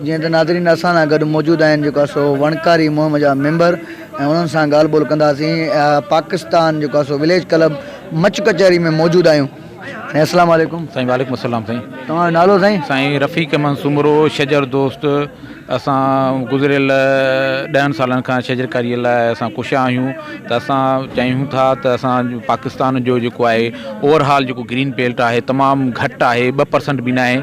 جيئن ته ناظرين اسان سان گڏ موجود آهن جيڪو سو وڻڪاري مهم جا ميمبر ۽ انهن سان ڳالهه ٻولهه ڪنداسين پاڪستان جيڪو اسو وليج ڪلب مچ ڪچهري ۾ موجود آهيون سائين السلام عليڪم سائين وعليڪم السلام سائين توهان جو نالو سائين سائين رفيق احمد سومرو شجر دوست اسان گذريل ڏهن سالن کان شجرڪاري لاء اسان ڪوشا آهيون ته اسان چاهيون ٿا ته اسان پاڪستان جو جيڪو آهي اوور هال جيڪو گرين بيلٽ آهي تمام گهٽ آهي ٻه پرسنٽ بي ناهي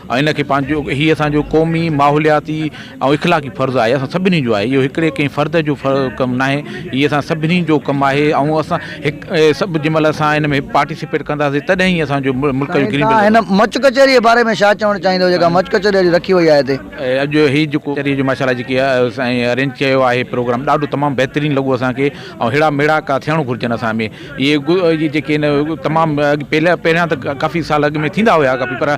۽ ان کي پنهنجو هي اسان جو قومي، ماحولياتي ۽ اخلاقي فرض آهي، اسان سڀني جو آهي، اهو هڪڙي ڪنهن فرد جو ڪم ناهي، هي اسان سڀني جو ڪم آهي ۽ اسان هڪ سڀ جنهن مهل اسان ان ۾ پارٽيسپيٽ ڪنداسين تڏهن ئي اسان جو ملڪ جو گرين بيلٽ هن مچ ڪچهري جي باري ۾ ڇا چوڻ چاهيندو جيڪا مچ ڪچهري اڄ رکي وئي آهي هتي. اڄ هي جيڪو ڪچهري جو ماشاءالله جيڪي سائين ارينج ڪيو آهي پروگرام ڏاڍو تمام بهترين لڳو اسان کي ۽ ههڙا ميڙاڪا ٿيڻ گهرجن اسان ۾. اهي اهي جيڪي هن تمام پهريان پهريان ته ڪافي سال اڳ ۾ ٿيندا هيا ڪافي پر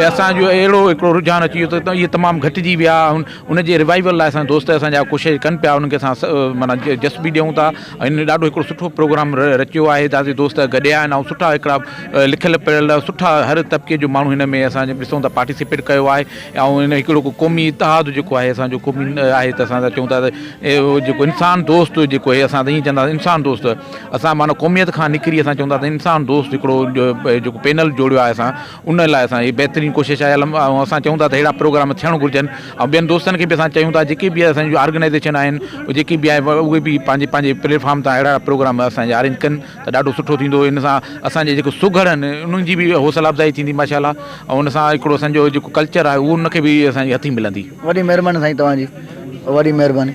اسانجو اهڙو هڪڙو رجحان اچي ويو ته اهي تمام گهٽجي ويا ان جي روايول لاء اسان دوست اسانجا ڪوشش ڪن پيا انکي اسان معنيٰ جس به ڏيون ٿا ۽ ڏاڍو هڪڙو سٺو پروگرام رچيو آهي ڏاڍي دوست گڏيا آهن ۽ سٺا هڪڙا لکيل پڙهيل سٺا هر طبقي جو ماڻهو هن ۾ اسان ڏسون ٿا پارٽيسپيٽ ڪيو آهي ۽ هن هڪڙو قومي اتحاد جيڪو آهي اسانجو قومي آهي ته اسان چئون ٿا ته اهو جيڪو انسان دوست جيڪو هي اسان ته ائين چئندا انسان دوست اسان معنيٰ قوميت کان نڪري اسان چون ٿا ته انسان دوست هڪڙو جيڪو پينل جوڙيو آهي اسان ان لاء اسان هي بهترين ڪوشش آهي الم ۽ اسان چون ٿا ته ههڙا پروگرام ٿيڻ گهرجن ۽ ٻين دوستن کي به اسان چيون ٿا جيڪي به اسان جون آرگنائزيشن آهن جيڪي به آهن اهي به پنهنجي پنهنجي پليٽفارم تان اهڙا پروگرام اسان جي آرينج ڪن ته ڏاڍو سٺو ٿيندو ان سان اسان جي جيڪو سگهڙ آهن انهن جي به حوصلا افزائي ٿيندي ماشاء الله ۽ ان سان هڪڙو اسان جو جيڪو ڪلچر آهي اهو ان کي به اسان جي هٿي ملندي. وڏي مهرباني سائين توهان جي وڏي مهرباني.